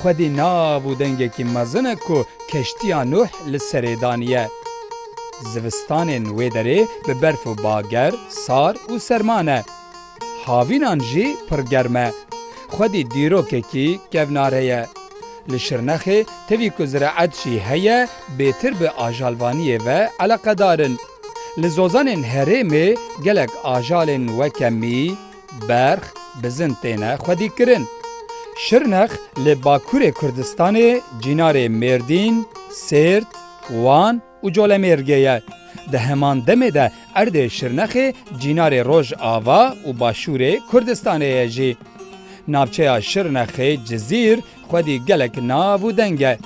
Xwedî nav û dengekî mezin e ku keştiya Nuh li serê daniye. Zivistanên wê derê bi berf û bager, sar û serma ne. Havînan jî pir germ e. Xwedî dîrokekî kevnare ye. Li Şirnexê tevî ku zireet jî heye bêtir bi ajalvaniyê ve eleqedar in. Li zozanên herêmê gelek ajalên weke mî, Berx, Bizin têne xwedîkirin. Şirnex li bakurê Kurdistanê cînarê Mêrdîn, Sêrt, Wan û Colemêrgê ye. Di heman demê de erdê Şirnexê cînarê Rojava û başûrê Kurdistanê ye jî. Navçeya Şirnexê Cizîr xwedî gelek nav û deng e.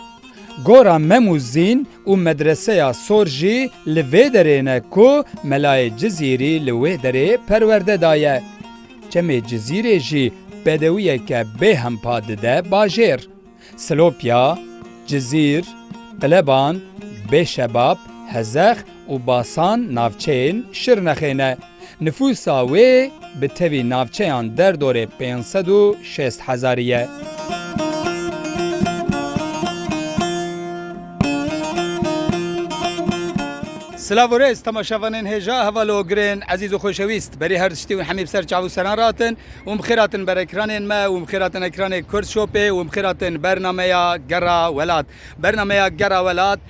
Gora Mem û Zîn Û medreseya sor jî li vê derê ne ku melayê Cizîrî li wê derê perwerde daye. Çemê Cizîrê jî bedewiyeke bê hempa dide bajêr. Silopya, Cizîr, Qileban, Bêşebab, Hezex û Basan navçeyên Şirnexê ne. Nifûsa wê bi tevî navçeyan derdorê pênc sed û şêst hezarî ye. Silav û rêz temaşevanên hêja hevalogirên ezîz û xweşewîst. Berî her tiştî û hemî bi ser çav û seran re hatin û bi xêr hatin ber ekranên me û bi xêr hatin ekranê Kurdshopê û bi xêr hatin bernameya Gera Welat. Bernameya Gera Welat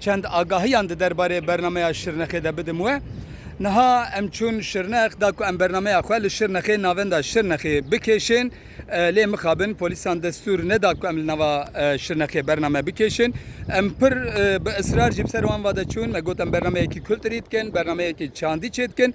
Çend agahiyan di derbarê bernameya Şirnexê de bidim we. Niha em çûn Şirnex, da ku em bernameya xwe li Şirnexê navenda Şirnexê bikêşên. Lê mixabin polîsan destûr neda ku em li nava Şirnexê bername bikêşin. Em pir bi israr jî bi ser wan va de çûn. Me got em bernameyekî kulturî dikin, bernameyekî çandî çêdikin.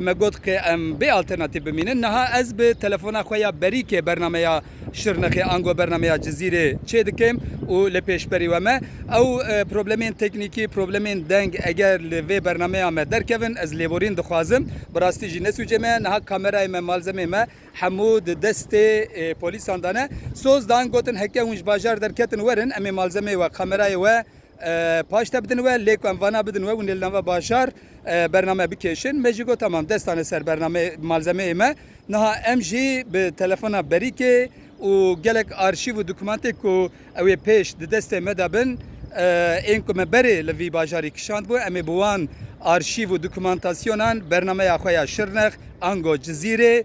me got ke em bê alternatîf bimînin. Niha ez bi telefona xwe ya berîkê bernameya Şirnexê ango bernameya Cizîrê çêdikim û li pêşberî we me. Ew problemên teknîkî, problemên deng eger li vê bernameya me derkevin ez lêborîn dixwazim. Bi rastî jî ne sûcê me ye. Niha kamerayê me, malzemeyê me hemû di destê polîsan de ne. Soz dan gotin heke hûn ji bajar derketin werin em ê malzemeyê we, kamerayê we Paş te bidin we, lê ku em vana bidin we û nêl nava bajar bername bikêşin. Me jî got tamam dest dane ser bernameyê, malzemeyê me. Niha em jî bi telefona berîkê û gelek arşîv û dokûmantê ku ew ê pêş di destê me de bin, ên ku me berê li vî bajarî kişandbû, em ê bi wan arşîv û dokûmantasyonan bernameya xwe ya Şirnex, Ango, Cizîrê,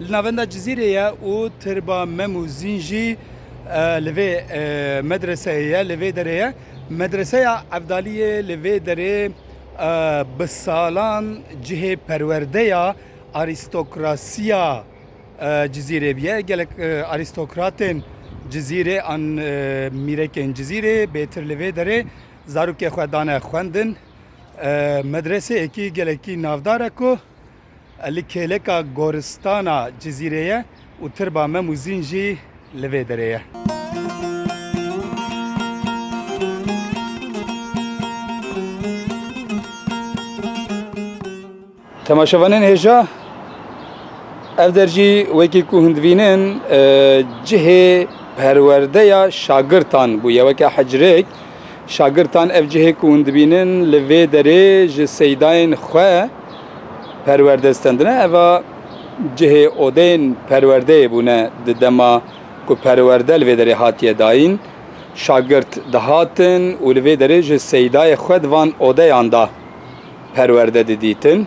Li navenda Cizîrê ye û Tirba Mem û Zîn jî li vê medreseyê ye, li vê derê ye. Medreseya Evdaliyê li vê derê bi salan cihê perwerdeya arîstokrasiya Cizîrê bûye. Gelek arîstokratên Cizîrê an mîrekên Cizîrê bêtir li vê derê zarokê xwe dane xwendin. Medreseyekî gelekî navdar e ku Li kêleka goristana Cizîrê ye û tirba Mem û Zîn jî li vê derê ye. Temaşevanên hêja ev der jî wekî ku hûn divînin cihê perwerdeya şagirtan bûye weke hecrêk. Şagirtan ev cihê ku hûn dibînin li vê derê ji seydayên xwe perwerde stendine. Eva cihê odeyên perwerdeyê bûne di dema ku perwerde li vê derê hatiye dayîn. Şagirt dihatin û li vê derê ji seydayê xwe di van odeyan de perwerde didîtin.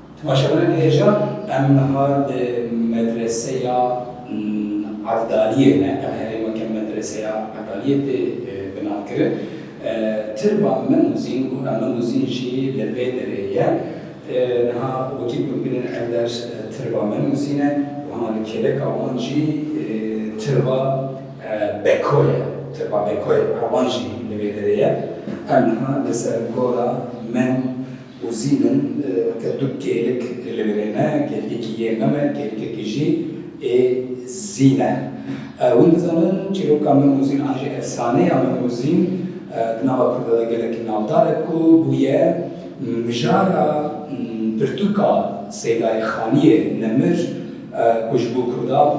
Başa me hêja em niha li medreseya Evdaliyê ne, ev herêmeke medreseya Evdaliyê tê binavkirin. Tirba Memuzîn û Ememuzîn jî li vê derê ye. Niha wekî ku em bînin ev der Tirba Memuzîn e û hema li kêleka wan jî Tirba Beko ye. Tirba Bekoyê Erwan jî li vê derê ye. Em niha li ser gola Mem û zîn in weke du kêlik li vir ê ne kêlikekî yê min e kêlikekî jî ê zîn e hûn dizanin çîroka min û zîn an jî efsaneya min û zîn di nava kurda de gelekî navdar e ku bûye mijara pirtûka Seydayê Xaniyê Nemir ku ji bo kurdan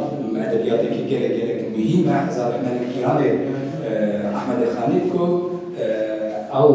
edebiyatekî gelek gelek muhîm e hezar rehmet li kîranê Ehmedê Xanî ku ew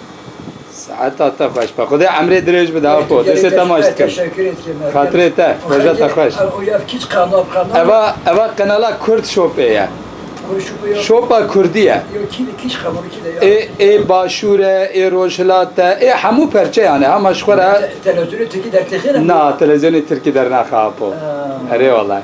Saeta te xweş be. Xwedê emrê dirêj bide Apo. Destê te maş dikim. Xatirê te. Roja te xweş. Eva eva qenala Kurd Shopê ye. Shopa Kurdî ye. Ê ê başûr e, ê rojhilat e, ê hemû perçeyan e ha ma ji xwe re. Na televizyonê Tirkî dernaxe Apo. Erê walayi.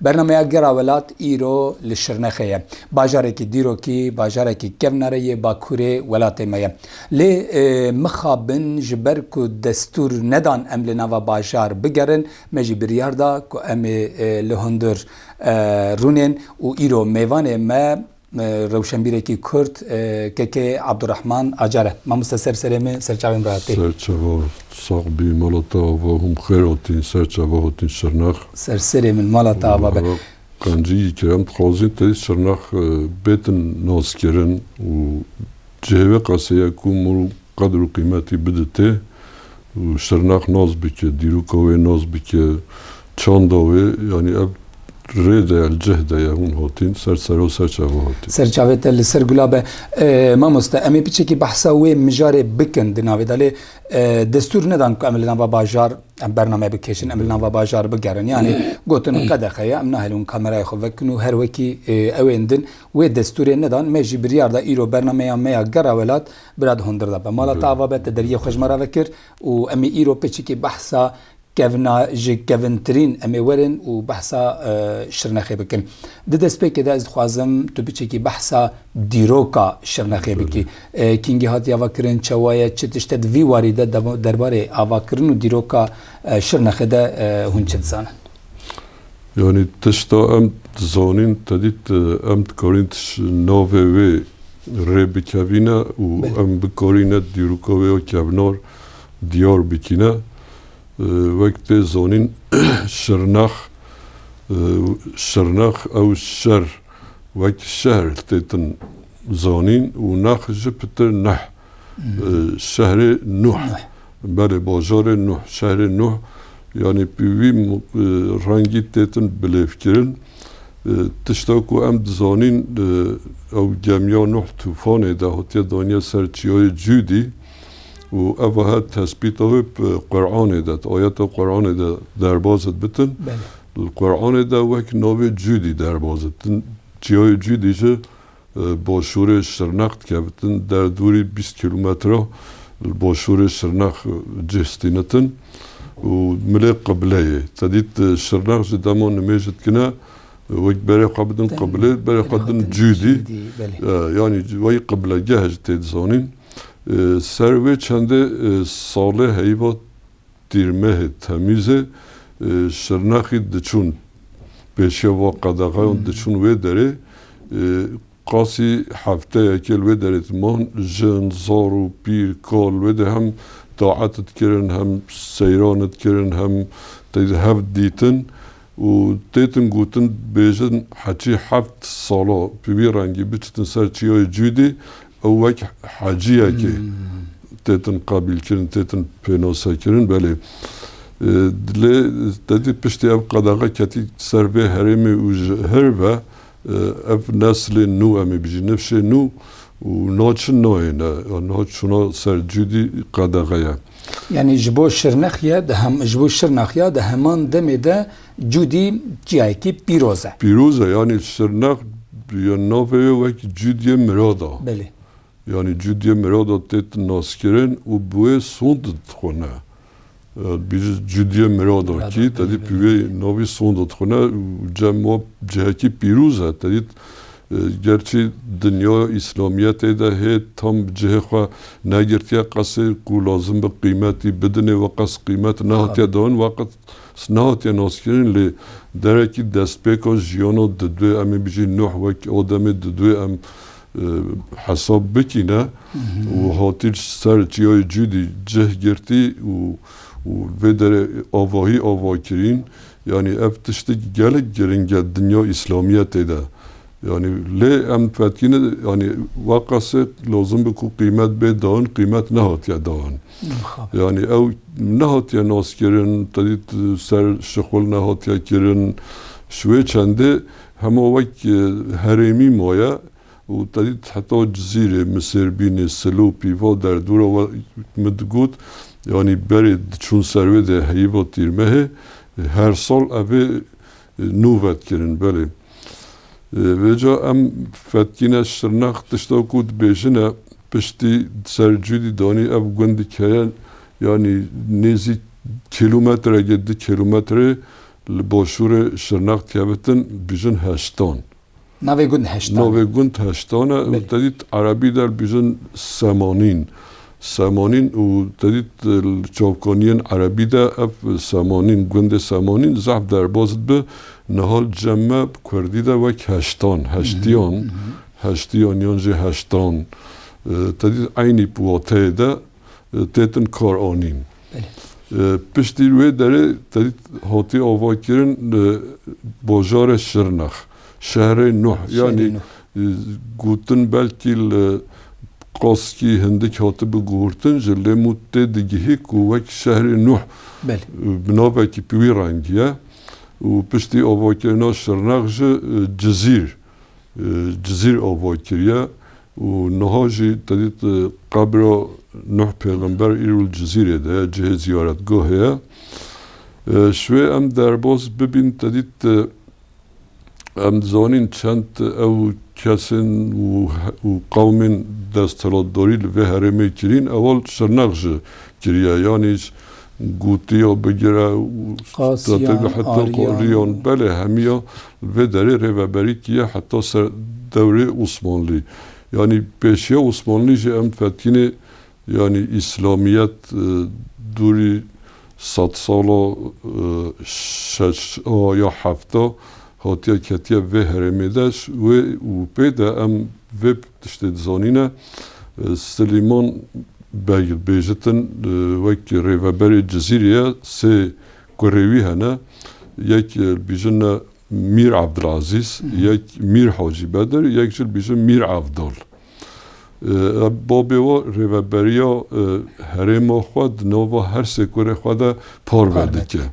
Bernameya Gera Welat îro li Şirnexê ye. Bajarekî dîrokî bajarekî kevnare yê bakurê welatê me ye. Lê mixabin ji ber ku destûr nedan em li nava bajar bigerin, me jî biryar da ku em ê li hundir rûnên û îro mêvanê me Rewşenbîrekî Kurd, KK'ê Abdurrahman Acar e. Mamoste ser serê me, ser çavên re hatî. Ser çava sax bî, mala te ava hûm xêr hatîn, ser çava hatîn Şirnex? Ser serê min, mala te ava be. Qencî yî ke em dixwazîn tê Şirnex bêtin naskirin û. Ji hêvê qeseye ku mor qedr û qîmetî bidite û şirnax nas bike, dîroka wê nas bike, çanda wê, yanî ev rê de ye, li cih de ye hûn hatîn, ser sera ser çava hatîn. Ser çavê te li ser gula be. Mamoste em ê piçekî behsa wê mijarê bikin di navê de lê destûr nedan ku em li nava bajar em bername bikêşin, em li nava bajar bigerin. Yanî gotin qedexe ye, em nahelin wan kamerayê xwe vekin û her wekî ewên din Wê destûrê nedan, me jî biryar da îro bernameya me ya Gera Welat bi rad hundir da be mala te ava be te deriyê xwe ji me re vekir û em ê îro pêçikî behsa kevna ji kevintirîn em ê werin û behsa Şirnexê bikin. Di destpêkê de ez dixwazim tu biçekî behsa dîroka Şirnexê bikî. Kîngî hatiye avakirin, çewa ye, çi tişt e di vî warî de derbarê avakirin û dîroka Şirnexê de hûn çi dizanin? Yanî tişta em dizanîn tedî em dikarîn ti ji navê wê rê bikevîne û em bikarîne dîroka wê ya kevnar diyar bikîne. Wek tê zanîn Şirnex Şirnex ew şer wekî şehr tê tin zanîn û nex ji pitir neh. Şehrê Nuh. Belê bajarê Nuh. Şehrê Nuh yanî bi vî rengî têtin bilêvkirin. Tişta ku em dizanîn ew gemiya Nuh tûfanê de hatiye daniye ser çiyayê Cûdî û eva her tespîta wê bi Quranê de, ayeta Quranê de derbas dibitin. Li Quranê de wek navê Cûdî derbas dibitin. Çiyayê Cûdî jî Boşûrê Şirnex dikevitin der dûrî bîst kîlometre li boşûrê Şirnex cih stînitin û milê qibleyê. Te dît Şirnex ji dema nimêj dikine wek berê xwe bidin qiblê berê xwe din cûdî yanî wayî qiblegeh ji tê dizanîn. Ser wê çendê salê heyva Tîrmehê Temîzê Şirnexî diçûn pêşeva qedexeyan diçûn wê derê. Qasî hefteyekê li wê derê diman. Jin, zar û pîr, kal li wê de hem taet dikirin hem seyran dikirin hem tê de hev dîtin û têtin gotin bêjin heçî heft sala bi vî rengî biçitin ser çiyayê Cûdî Ew wek heciyekê tê tin qabîlkirin, tê tin pênosekirin belê. Lê tedî piştî ev qedexe ketî ser vê herêmê û ji hir ve ev neslên nû em ê bijîn, nifşên nû û niha çi nayê ne, niha çûna ser cûdî qedexe ye. Yanî ji bo Şirnexye, ji bo Şirnax ya di heman demê de, Cûdî çiyayekî pîroz e. Pîroz e yanî sirnexd ya navê wê wekî Cûdiyê Mirad a. Belê. Yanî Cûdiyê Mirad a tê naskirin û bi wê Sond dixwine. Bîrî Cûdiyê Mirad a kî tedî bi wê navî Sond dixwine û cem wa cihekî pîroz e. Tedî gerçî dinya Îslamiyetê de hê tam bi cihê xwe negirtiye qasê ku lazim be qîmetî bidinê we qas qîmet nehatiye dan. Weqt Sineha tê naskirin lê derekî destpêka jiyana didwê em ê bijîn nuh wek ademê didwê em hesab bikîne û hatî li ser çiyayê cûdî cih girtî û û vê derê avahî ava kirîn yanî ev tiştekî gelek giring e dinya îslamiyetê de yanî lê em fetkîne yanî weqasê lazim bû ku qîmet bê dan qîmet nehatiye dan. Yanî ew nehatiye naskirin, te dît ser şixul nehatiye kirin. Ji wê çendê hema wek herêmî maye û te dît heta Cizîrê, Misêrbînê, Silopî va derdora we min digot yanî berê diçûn ser wê de heyîva Tîrmehê her sal evê Nû vetkirin belê. Vêca em fetkîne Şirnex tişta ku dibêjine piştî ser cûdî danî ev gundik heye yanî nêzî kîlometregê di kîlometrê li başûrê Şirnex dihebitin dijin heştan. Navê gund heştan e. Navê gund heştan e û te dît Erebî de dibêjin Semanîn. Semanîn û te dît li çavkaniyên Erebî de ev Semanîn, gundê Semanîn zehf derbas dibe. Niha li cem me bi kurdî de wek heştan, heştiyan, heştiyan yan jî heştan te dît eynî bi wateyê de têtin karanîn. Piştî wê derê tevî hatiye avakirin bajarê Şirnex, şehrê Nuh yanî gotin belkî li Qaskî hindik hatibi guhurtin jî lê mû tê digihî ku wek şehrê Nuh bi navekî bi wî rengî ye û piştî avakirina Şirnex jî Cizîr, Cizîr ava kiriye. Û niha jî te dît qebra Nuh pêxember îro li Cizîrê de ye, cihê ziyaretgahê ye. Ji wê em derbas bibîn te dît em dizanîn çend ew kesên û qewmên desthilatdarî li vê herêmê kirîn, ewal Şirnex ji kiriye, yanî Gotiya bigire û strateji heta qasiyan belê hemiya li vê derê rêveberî tîye heta ser dewrê Osmanlî. Yanî pêşiya Osmanlî jî em fetînê yanî îslamiyet dûrî sed sala şeşta ya hefta hatiye ketiye vê herêmê de ji wê û pê de em vê Tiştê dizanîne, Silîman Beg li Bêjitin wek rêveberê Cizîrê ye, sê kurê wî hene, yek li bîjin ne Mîr Abdilazîz, yek Mîr Hacî Bedir, yek jî li bîjin Mîr Evdal. Babê we rêveberiya herêma xwe di nava her sê kurê xwe de parve dike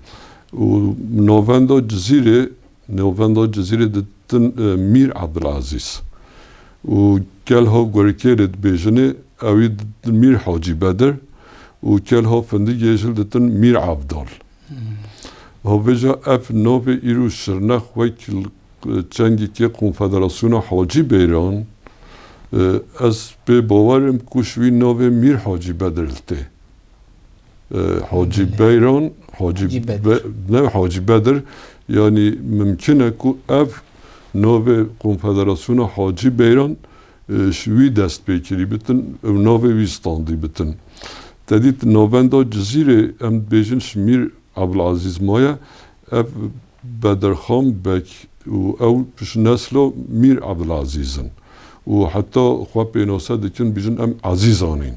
û navenda Cizîrê Navenda Cizîrê de ditin Mîr Ebdilezîz û Kelha Gorikêrê dibêjinê ewî ditin Mîr Hacî Bedir û Kelha Findigê jil ditin Mîr Evdal. Hevêja ev navê îro Şirnex wek çengekê Konfederasyona Hacî Beyran ez pê bawer im ku ji wî navê Mîr Hacî Bedir li tê. Hacî Beyran, Hacî ne Hacî Bedir yanî mimkîn e ku ev navê Konfederasyona Hacî Beyran ji wî dest pê kirî bitin û navê wî standî bitin. Tedît navenda Cizîrê em dibêjin ji Mîr Ebulezîz maye Ev Bedirxan Beg û ew ji nesla Mîr Ebdulazîz in û heta xwe pênase dikin bêjin em Ezîzan in.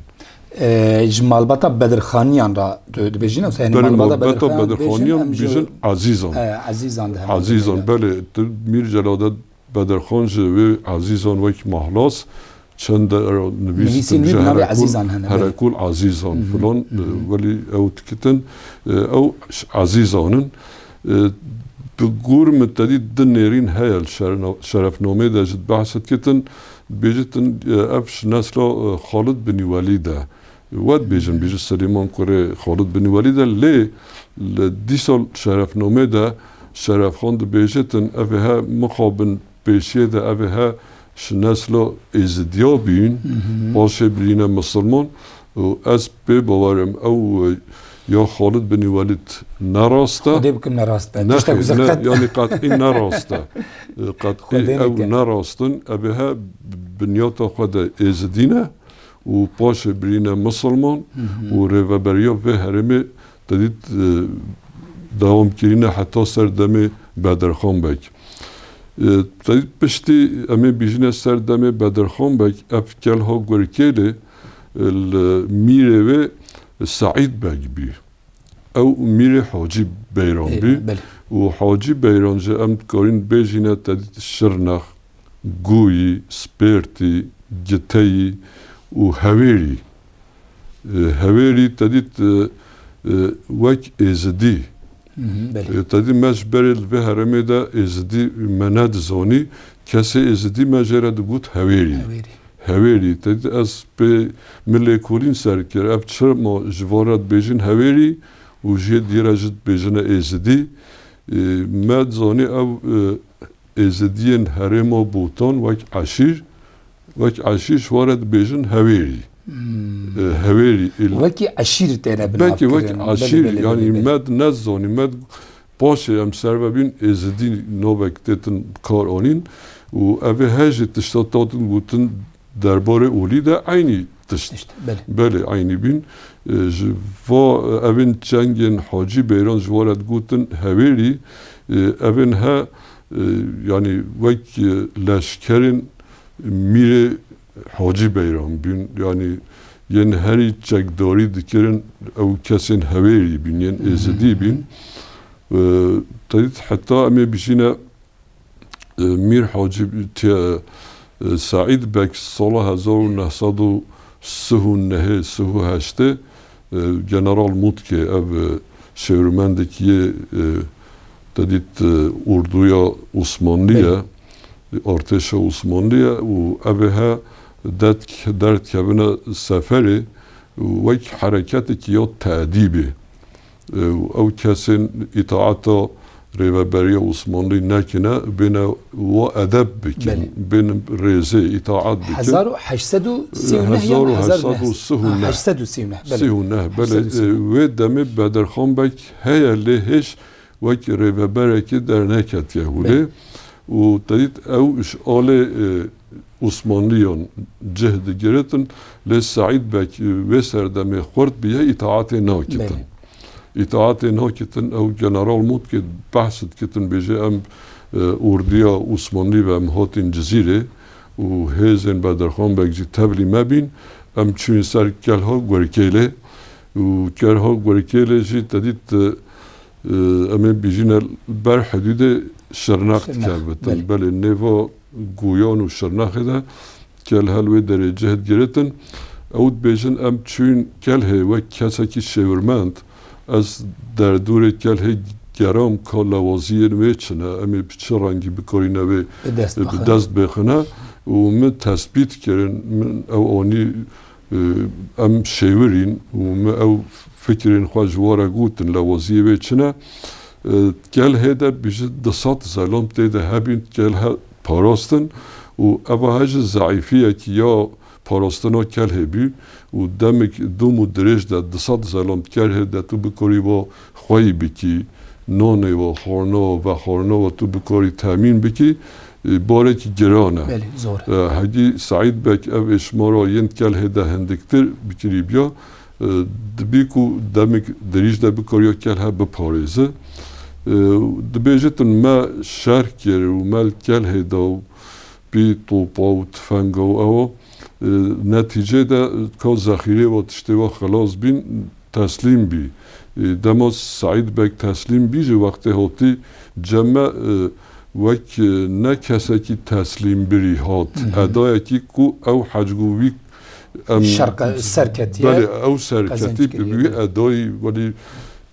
Ji malbata Bedirxaniyan re tu dibêjî ne? Berê malbata Bedirxaniyan bêjin Ezîzan. Ezîzan diherin. Ezîzan belê tu Mîr Celadet Bedirxan ji wê Azîzan wek Mahlas çend cara nivîs Nivîsî nî bi navê Azîzan hene. Herekûl Azîzan filan welî ew dikitin ew Azîzan in. Bi gor min tedî di nêrîn heye li şerefnameyê de jî di behse dikitin dibêjîtin ev ji nesla Xalid Binî Welîd e. Wa dibêjin bê ji Silêman kurê Xalid Bin Welîd e lê li dîsal şerefnamê de Şerefxan dibêje tin evê he mixabin pêşiyê de evê he ji nesla Êzidiya bîn paşê birîne misilman û ez pê bawer im ew ya Xalid Bin Welîd ne rast e. Xwedê bikim ne rast be. Tiştek ku ze qet. Yanî qet'î ne rast e. Qet'î ew ne rast in. Evê he bi binyata xwe de Êzidî ne û paşê birîne Musulman û rêveberiya vê herêmê te dît dewam kirîne heta ser demê Bedirxan Beg. Te dît piştî em ê bîjîne ser demê Bedirxan Beg ev kelha Gurkêlê li mîrê wê Seîd Beg bî. Ew mîrê Hacî Beyran bî û Hacî Beyran ji em dikarîn bêjîne te dît Şirnex. Gûyî, Spêrtî, Giteyî û Hewêrî. Hewêrî tedî wek Êzidî. Tedî me ji berê li vê herêmê de Êzidî me nedizanî, kesê Êzidî me jê re digot Hewêrî. Hewêrî. Tedî ez pê min lêkolîn ser kir ev çima ji van re dibêjin Hewêrî û ji yê diyê re jî dibêjine Êzidî. Me zanî ew Êzidiyên herêma Botan wek eşîr wek eşîr ji wan re dibêjin Hewêrî. Hewêrî î li. Wekî eşîr têne binavkirin. Belkî wek eşîr yanî me di nezanî me di paşê em ser ve bîn êzidî navek têtin bikaranîn û evê hejî tişta tatin gotin Derbarê olî de eynî tişt Tişt, belê. belê eynî bîn. Ji va evên çengên Hacî Beyran ji wa re digotin Hewêrî. Evên he yanî wek leşkerên Mîrê Hacî Beyran bîn. Yanî yên herî çekdarî dikirin ew kesên Hewêrî bîn, yên Êzidî bîn. Tevît heta em ê bijîne. Mîr Hacîb Seîd Beg sala hezar û neh sed û sih û nehê sih û heştê General Mutke ev şêwirmendekî yê tedît orduya Osmanlî ye, artêşa Osmanlî ye û ev ê he derdikevine seferê û wek hereketekî ya tedîbê û ew kesên îtaeta Rêveberiya Osmanlî nekine bêne wa edeb bikin, bên rêzê, îtaet bikin. Hezar û heşt sed û sî û neh yan hezar û heşt sed û sih û neh? Heşt sed û sî û neh, belê. Sih û neh, belê. Wê demê Bedirxan Beg heye lê hêj wek rêveberekî derneketiye hûlê û te dît ew ji alê Osmanliyan cih digiritin lê Seîd Beg wê serdemê xurt biye îtaatê nakitin. Îtaatê nakitin ew general Motke behs dikitin bêje em ordiya Osmanlî ve em hatîn Cizîrê û hêzên Bedirxan Beg jî tevlî me bîn em çûyên ser Kelha Gurkêlê û Kelha Gurkêlê jî te dît em ê bijîne li ber hidûdê Şirnex dikerbitin belê nêva Guyan û Şirnexê de Kelhel wê derê cihd girêtin. Ew dibêjin em çûyn Kelhê wek kesekî şêwirmend. Ez derdorê Kelhê geram ka lawaziyên wê çi ne, em ê bi çi rengî bikarîne wê bi dest bixine û min tesbît kirin. Min ew anî. Em şêwir in û me ew fikirên xwe ji we re gotin. Lewaziyê wê çi ne? Gel hê de biji di sed zelom tê de hebîn gel he parastin û eva he ji zeîfiyekî ya parastina kel hê bî û demik dom û dirêj de di sed zelom kel hê de tu bikarî va xweyî bikî, nonê we, xorna we, vexorna we tu bikarî temîn bikî, barekî giran e. Belê, zor e. Hegî Seîd Beg ev êşmara yên Kelhê de hindiktir bikirîbiya, dibî ku demik dirîj de bikariya Kelhe biparêzi. Dibêje tu me şerh kir û me li Kelhê de û Pî, topa û tifenga û ewa. Netîcê de ka zexîrê wa tiştê wa xelas bîn, teslîm bî. Dema Seîd Beg teslîm bî jî wextê hatî ceme wek ne kesekî teslîmbirî hat. Edayekî ku ew hecgû wî em. Şerq ser ketiye. Belê ew ser ketî bi wî edayî welî.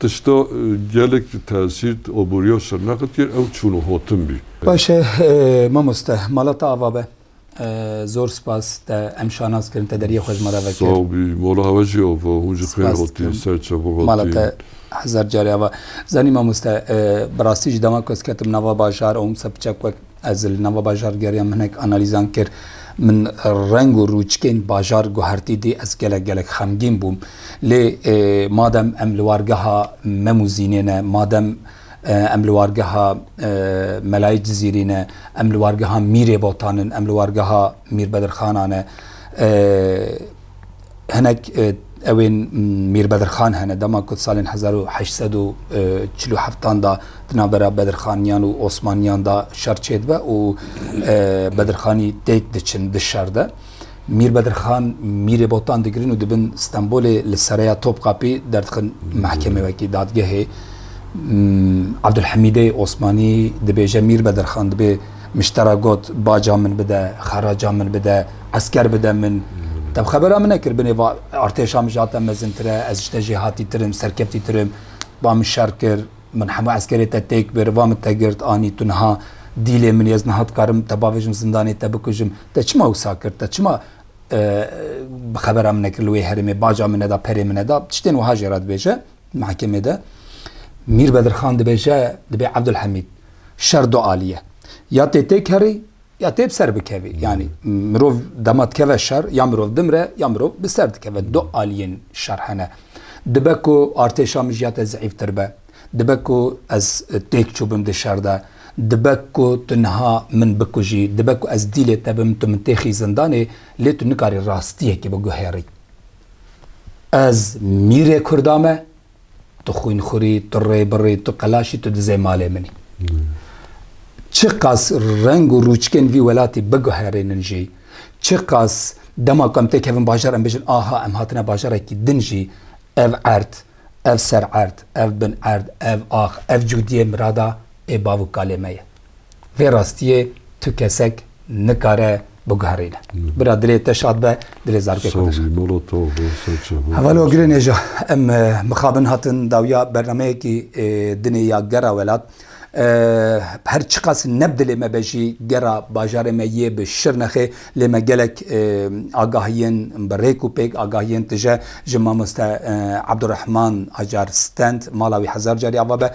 Tişta gelek ji tesîrt aboriya serneqitiyê ew çûn û hatin bî. Baş e mamoste. Mala te ava be. Zor spas te em şanas kirin te deriyê xwe ji me re vekir. Sağ bî. Mala hewa jî ava. Hûn jî xêr hatîn, ser çevan hatîn. Mala te hezar carî ava. Zanî mamoste bi rastî ji dema ku ez ketim nava bajar û hûn bi ser piçek wek Ez li nava bajar geriya min hinek analîzan kir. Min reng û rûçkên bajar guhertî dî ez gelek gelek xemgîn bûm. Lê madem em li wargeha Mem û Zînê ne, madem em li wargeha Melayê Cizîrî ne, em li wargeha Mîrê Botan in, em li wargeha Mîr Bedirxana ne, Hinek ewên Mîr Bedirxan hene dema ku di salên hezar û heşt sed û çil û heftan da di navbera Bedirxaniyan û Osmaniyan da şer çêdibe û Bedirxanî têk diçin di şer de. Mîr Bedirxan Mîrê Botan digirin û dibin Stenbolê li Sereya Topkapî derdixin mehkemê wekî dadgehê. Abdulhemîdê Osmanî dibêje Mîr Bedirxan dibê Miştera got, baca min bide, xeraca min bide, esker bide min. Te bi xebera min nekir, binê va, artêşa min ji hate mezintir e, ez ji te jê hatîtir im, serkeftîtir im. Va min şer kir, min hemû eskerê te têk bir, va min te girt, anî tu niha dîlê min î, ez niha dikarim te bavêjim zindanê, te bikujim. Te çima wisa kir, te çima bi xebera min nekir li wê herêmê, baca min neda, perê min neda, tiştên wiha jê re dibêje. Mehkemê de Mîr Bedirxan dibêje dibê Ebdulhemîd şer du alî ye. Ya tê têkerî ya tê bi ser bikevî. Yanî mirov dema dikeve şer ya mirov dimre ya mirov bi ser dikeve. Du alîyên şer hene. Dibe ku artêşa min ji ya te zîîftir be. Dibe ku ez têk çûbim di şer de. Dibe ku tu niha min bikujî. Dibe ku ez dîlê te bim tu min têxî zindanê lê tu nikarî rastiyekê biguhêrî. Ez mîrê Kurda me, tu xwînxurî, tu rêbirî, tu qelaşî, tu dizê malê min î. Çiqas reng û rûçkên vî welatî biguherînin jî, çiqas dema ku em tê kevin bajar em bêjin aha em hatine bajarekî din jî ev erd, ev sererd, ev binerd, ev ax, ev cûdiyê mirada ê bavûkalê me ye. Vê rastiyê tu kesek nikare biguherîne. Bira dilê te şad be, dilê zarokê xwe de şad. Hevalo Gulê Nêja, em mixabin hatin dawiya bernameyekî dinê ya gera welat. Her çiqas ne bi dilê me be jî gera bajarê me yê bi Şirnexê lê me gelek agahiyên bi rêk û pêk, agahiyên tije ji mamoste Abdurehman Acar Stand, mala wî hezar carî ava be.